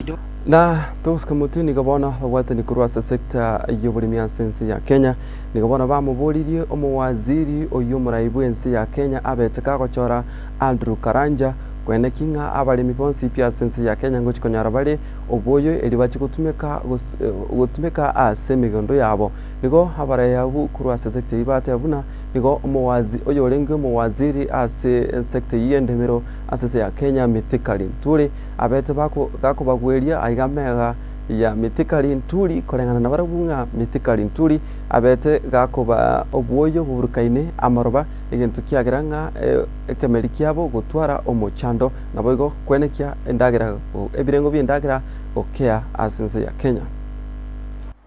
Ido. Na togosuka motwe nigo bono babwatani korwa ase sector y'oboremi ase ense ya Kenya nigo bono bamoboririe omowaziri oyio omorai bw'ense ya Kenya abete kagochora Andrew Karanja kwene ki ng'a abaremi bonsi pi ase ense ya Kenya ngochi konyora bare oboyo erio bache gotumeka gotumeka ase emegondo yabo nigo abaraya abwo korwa ase sector eyio bateba buna nigo omowazi oyorenge omowaziri ase sector eyio y'endemero ase ense ya Kenya Mithika Linturi Abete gakobagweria aiga meega ya mitikari nturi koreng'ana nabarabwo ng'a mitikari nturi, abete gakobaa obwoyo boburukaine amaroba, egento kiagera ng'a ekemeri kiabo gotwara omochando, naboigo kwenekia endagera ebirengo bi'endagera gokea ase ense ya Kenya.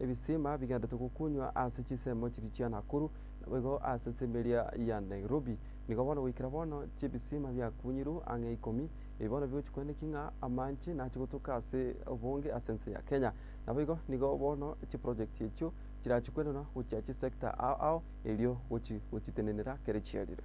ebisima bigenderete gokunywa ase chisemo chiria chia Nakuru, naboigo ase ensemo eria ya Nairobi. Nigo bono goikera bono chibisima biakunyirwe ang'e ikomi, ebi bono bigochi kweneki ng'a amache nache gotoka ase obonge ase ense ya Kenya. Naboigo nigo bono chiprojekti echio chirache kwenenwa gochia chisecta ao ao erio gochi gochitenenera kere chiarire.